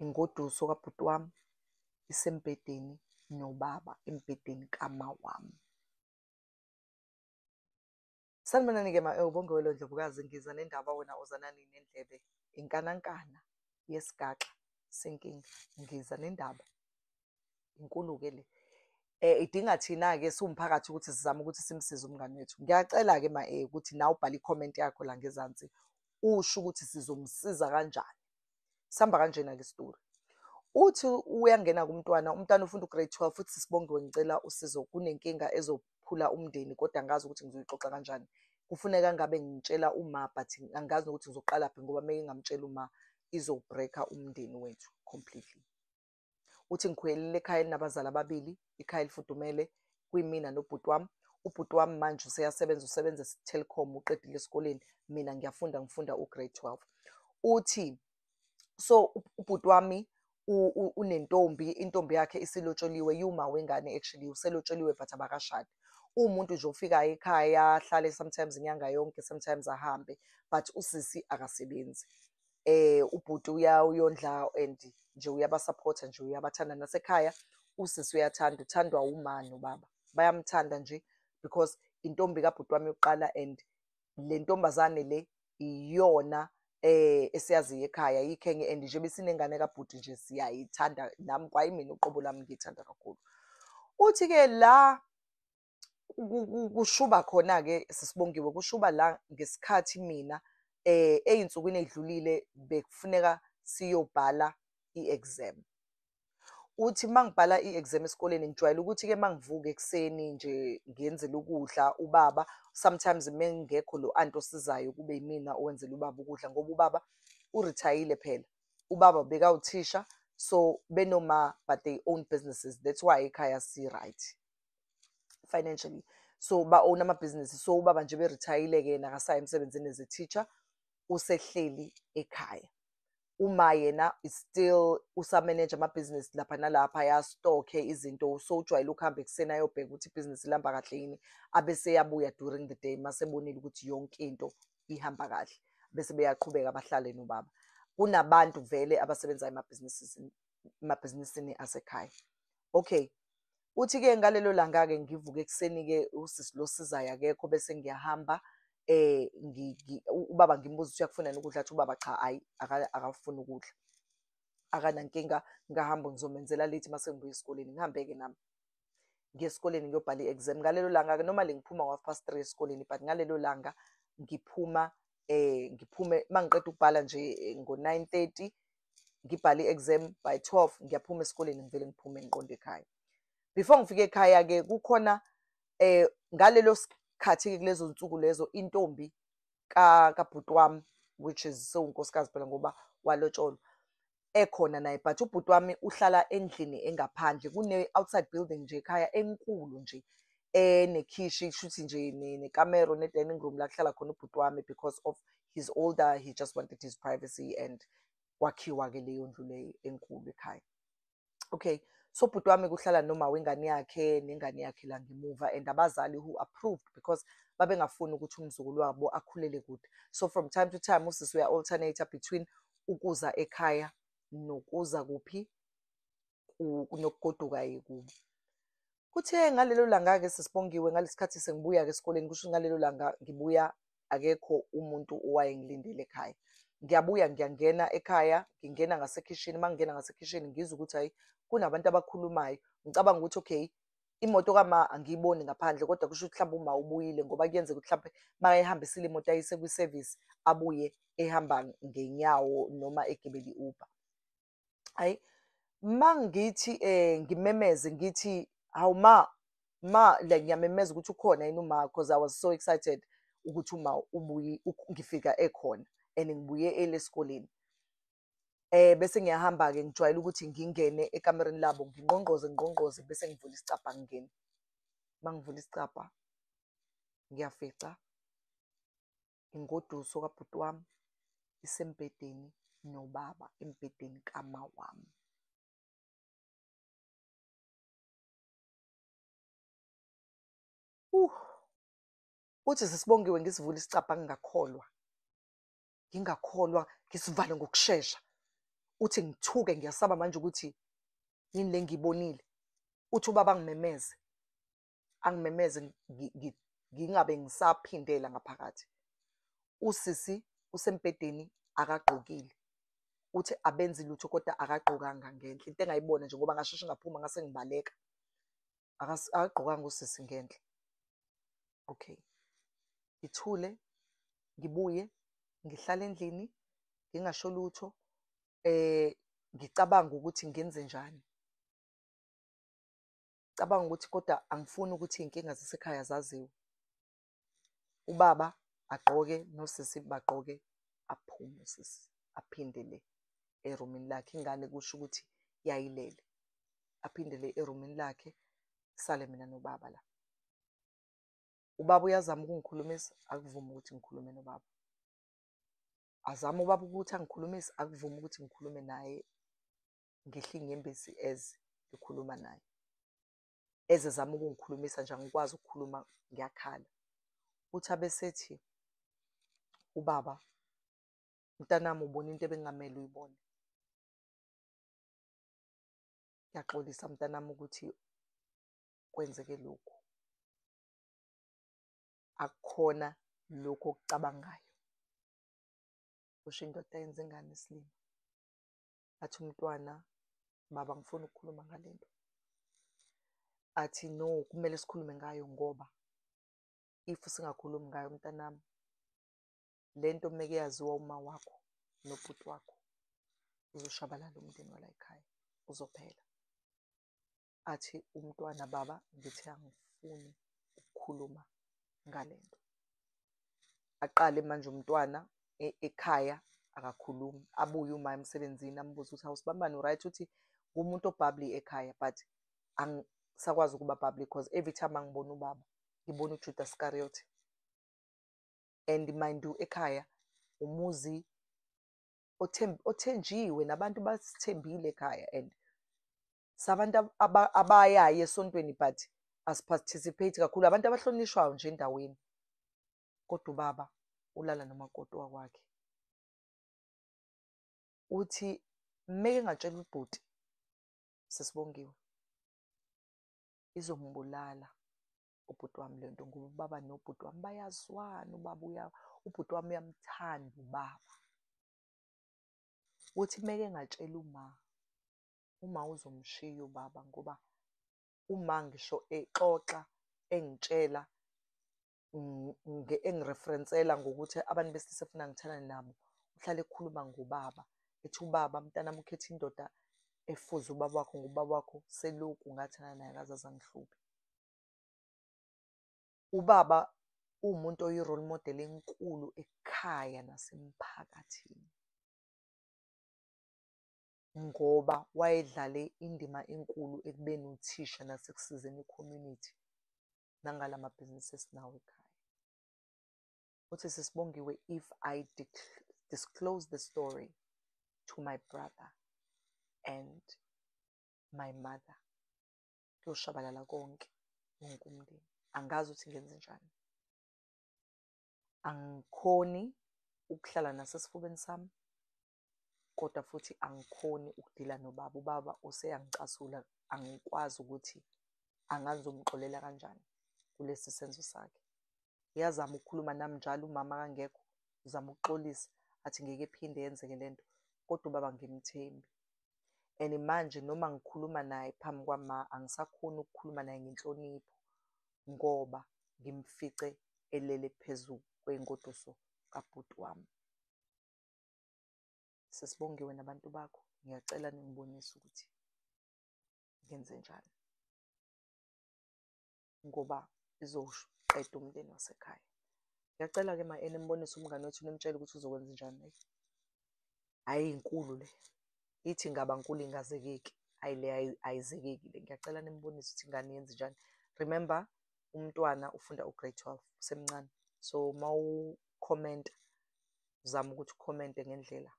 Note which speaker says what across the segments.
Speaker 1: ingoduso kabhuti wami isembhedeni nobaba embhedeni kama wami sanibonani-ke ma-ewu eh, bongewelo ndlovukazi ngiza nendaba wena ozanani nendlebe inkanankana yesigaxa senkinga ngiza nendaba inkulu-ke le um idinga thina-ke siwumphakathi ukuthi sizame ukuthi simsize umngane wethu ngiyacela-ke ma-e eh, ukuthi nawe ubhale ikhomenti yakho la ngezansi usho ukuthi sizomsiza kanjani sihamba kanjena-ke isitori uthi uyangena kumntwana umntwana ufunda ugrade 12 futhi sisibongiwe ngicela usizo kunenkinga ezophula umndeni kodwa angazi ukuthi ngizoyixoxa kanjani kufuneka ngabe ngitshela uma but angazi nokuthi ngizoqala phi ngoba meke ngamtshela uma izobreaker umndeni wethu completely uthi ngikhwelile ekhaya elinabazali ababili ikhaya elifudumele kwimina nobhuti wami ubhuti wami manje useyasebenza usebenza esitelecom uqedile esikoleni mina ngiyafunda ngifunda ugrade 12 uthi so ubhuti wami unentombi intombi yakhe isilotsholiwe yuma wengane actually uselotsholiwe but abakashadi uwumuntu nje ofikayo ekhaya ahlale sometimes inyanga yonke sometimes ahambe but usisi akasebenzi eh ubhuti uyondla and nje uyabasupporta nje uyabathanda nasekhaya usisi uyathanda uthandwa umani ubaba bayamthanda nje because intombi kabhuti wami yokuqala and le ntombazane le iyona eh esiyaziyo ekhaya yikhenge and nje besinengane kabhuti nje siyayithanda nami kwayimina uqobo lami ngiyithanda kakhulu uthi ke la kushuba khona ke sisibongiwe kushuba la ngesikhathi mina eh ezinsukwini ezidlulile bekufuneka siyobhala iexam uthi mangibhala iexam esikoleni ngijwayele ukuthi ke mangivuka ekseni nje ngiyenzela ukudla ubaba sometimes mengekho lo anti osizayo kube yimina owenzela ubaba ukudla ngoba ubaba urithayile phela ubaba bekawuthisha so benoma but they own businesses that's why ekhaya si right financially so ba-own amabhizinisi so ubaba nje berithayile-ke yena akasayi emsebenzini as a teacher usehleli ekhaya uma yena still usameneja amabhizinisi lapha nalapha yastokhe izinto so ujwayele ukuhamba ekuseni ayobheka ukuthi ibhizinisi lihamba kahle yini abese yabuya during the day masebonile ukuthi yonke into ihamba kahle bese beyaqhubeka bahlale nobaba kunabantu vele abasebenzayo emabhizinisini asekhaya Okay. Uthi-ke ngalelo langa-ke ngivuke ekuseni-ke usisi lo sizayo akekho bese ngiyahamba eh ubaba ngimbuza ukuthi uyakufunani ukudla athi ubaba cha hayi akafuni ukudla akanankinga ngahamba ngizomenzela late mase ngibuya esikoleni ngihambe-ke nami ngiye esikoleni ngiyobhala i-exam ngalelo langa-ke noma le ngiphuma ngo-half past three esikoleni but ngalelo langa ngiphuma eh ngiphume uma ngiqeda ukubhala nje eh, ngo-nine thirty ngibhale i-exam by 12 ngiyaphuma esikoleni ngivele ngiphume ngiqonde ekhaya before ngifike ekhaya ke kukhona eh ngalelo sikhathi ke kulezo nsuku lezo intombi ka kabhuti wami which is sewunkosikazi phela ngoba walotsholwa ekhona naye but ubhuti wami uhlala endlini engaphandle kune-outside building nje ekhaya enkulu nje enekhishi shuthi nje nekamero ne-dining room la kuhlala khona ubhuti wami because of he's older he just wanted his privacy and kwakhiwa-ke leyo ndlu leyo enkulu ekhaya okay so bhuti wami kuhlala noma wengane yakhe nengane yakhe la ngemuva and abazali who approved because babengafuni ukuthi umzukulu wabo akhulele kude so from time to time usisi uya-alternator between ukuza ekhaya nokuza kuphi nokugoduka-ke kubo Kuthe ngalelo langa-ke sesiBongiwe ngalesikhathi sengibuya-ke esikoleni kusho ukuthi ngalelo langa ngibuya akekho umuntu owayengilindele ekhaya. Ngiyabuya ngiyangena ekhaya ngingena ngasekhishini uma ngingena ngasekhishini ngizwa ukuthi hhayi kunabantu abakhulumayo ngicabanga ukuthi okay imoto kama angiyiboni ngaphandle kodwa kusho ukuthi mhlawumbe uma ubuyile ngoba kuyenzeka ukuthi mhlawumbe makayihambisile imoto ayise kwisevisi abuye ehamba ngenyawo noma egibele i-uber. hayi mangithi eh ngimemeze ngithi hawu ma ma like ngiyamemeza ukuthi ukhona yini uma because i was so excited ukuthi uma ubuye ngifika ekhona and ngibuye ele esikoleni eh bese ngiyahamba ke ngijwayele ukuthi ngingene ekamereni labo ngingqongqoze ngqongqoze bese ngivula isicabha ngingene mangivula isicabha ngiyafica ingoduso kabhuti wami isembhedeni nobaba embhedeni kama wami. Uh, uthi sesibongiwe ngisivule isicabha ngingakholwa ngingakholwa ngisivale ngokushesha uthi ngithuke ngiyasaba manje ukuthi yini le ngiyibonile uthi ubaba ngimemeze angimemeze ngingabe ngisaphindela ngaphakathi usisi usembhedeni akagqokile uthi abenzi lutho kodwa akagqokanga ngenhle into engayibona nje ngoba ngasheshe ngaphuma ngase ngibaleka akagqokanga usisi ngenhle okay ngithule ngibuye ngihlale endlini ngingasho lutho eh ngicabanga ukuthi ngenze njani cabanga ukuthi kodwa angifuni ukuthi iy'nkinga zasekhaya zaziwe ubaba agqoke nosisi bagqoke aphume usisi aphindele erumini lakhe ingane kusho ukuthi yayilele aphindele erumini lakhe sale mina nobaba la ubaba uyazama ukungikhulumisa akuvumi ukuthi ngikhulume nobaba azama ubaba ukuthi angikhulumisi akuvumi ukuthi ngikhulume naye ngihle inyembezi as ngikhuluma naye eze zama ukungikhulumisa nje angikwazi ukukhuluma ngiyakhala uthi abesethi ubaba mntanami ubona into ebengamele uyibone ngiyaxolisa mntanami ukuthi kwenzeke lokhu akukhona lokhu okucabangayo kusho indoda yenza ingane isilima athi umntwana baba ngifuna ukukhuluma ngale nto athi no kumele sikhulume ngayo ngoba if singakhulumi ngayo mntanami le nto meke yaziwa uma wakho nobhuti wakho uzoshabalala umndeni walayikhaya uzophela athi umntwana baba ngithi angifuni ukukhuluma ngale nto aqale manje umntwana e, ekhaya akakhulumi abuye uma emsebenzini ambuze ukuthi awusibambani right uthi ngumuntu obhabli ekhaya but angisakwazi ukuba bhabli because every time angibona ubaba ngibona ujuda scariot and mind you ekhaya umuzi othenjiwe nabantu basithembile ekhaya and sabantu abayayo esontweni but asiparticipate kakhulu abantu abahlonishwayo nje endaweni kodwa ubaba ulala nomakoti wakwakhe uthi meke ngatshela ubhuti sesibongiwe izombulala ubhuti wami le nto ngoba ubaba nobhuti wami bayazwana ubaba uya ubhuti wami uyamthanda ubaba uthi meke ngatshela uma Uma uzomshiya ubaba ngoba uma ngisho exoxa engitshela engireferensela ngokuthi abantu besilisa efuna ngithandane nabo uhlale ekhuluma ngobaba ethi ubaba mntanami ukhetha indoda efuze ubaba wakho ngubaba wakho selokhu ngathana naye akaze azangihluphe ubaba uwumuntu oyi-role model enkulu ekhaya nasemphakathini ngoba wayedlale indima enkulu ekubeni uthisha nasekusizeni i-community nangala mabhizinisi esinawo ekhaya. Uthi, SisiBongiwe, if I disclose the story to my brother and my mother, kuyoshabalala konke, wonke umndeni. Angazi ukuthi ngenzenjani. Angikhoni ukuhlala nasesifubeni sami, kodwa futhi angikhoni ukudila nobaba, ubaba useyangicasula angikwazi ukuthi angazi ngizomxolela kanjani kulesi senzo sakhe. Uyazama ukukhuluma nami njalo umama akangekho, uzama ukuxolisa athi ngeke iphinde yenzeke le nto kodwa ubaba angimthembi. And manje noma ngikhuluma naye phambi kwama angisakhoni ukukhuluma naye ngenhlonipho ngoba ngimfice elele phezu kwey'ngoduso kabhuti wami. sesibongiwe nabantu bakho ngiyacela ningibonise ukuthi ngenze njani ngoba izoqeda umndeni wasekhaya ngiyacela-ke ma ene mbonise umngane wethu nimtshele ukuthi uzokwenza njani leyo hhayi inkulu le ithi ngaba nkulu ingazekeki hhayi le ayizekeki le ngiyacela nimbonise ukuthi ingane yenze njani remember umntwana ufunda ugrade twelve usemncane so uma ukhomenta zama ukuthi ukhomente ngendlela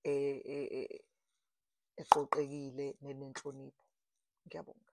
Speaker 1: e, e, e, eqoqekile nenenhlonipho ngiyabonga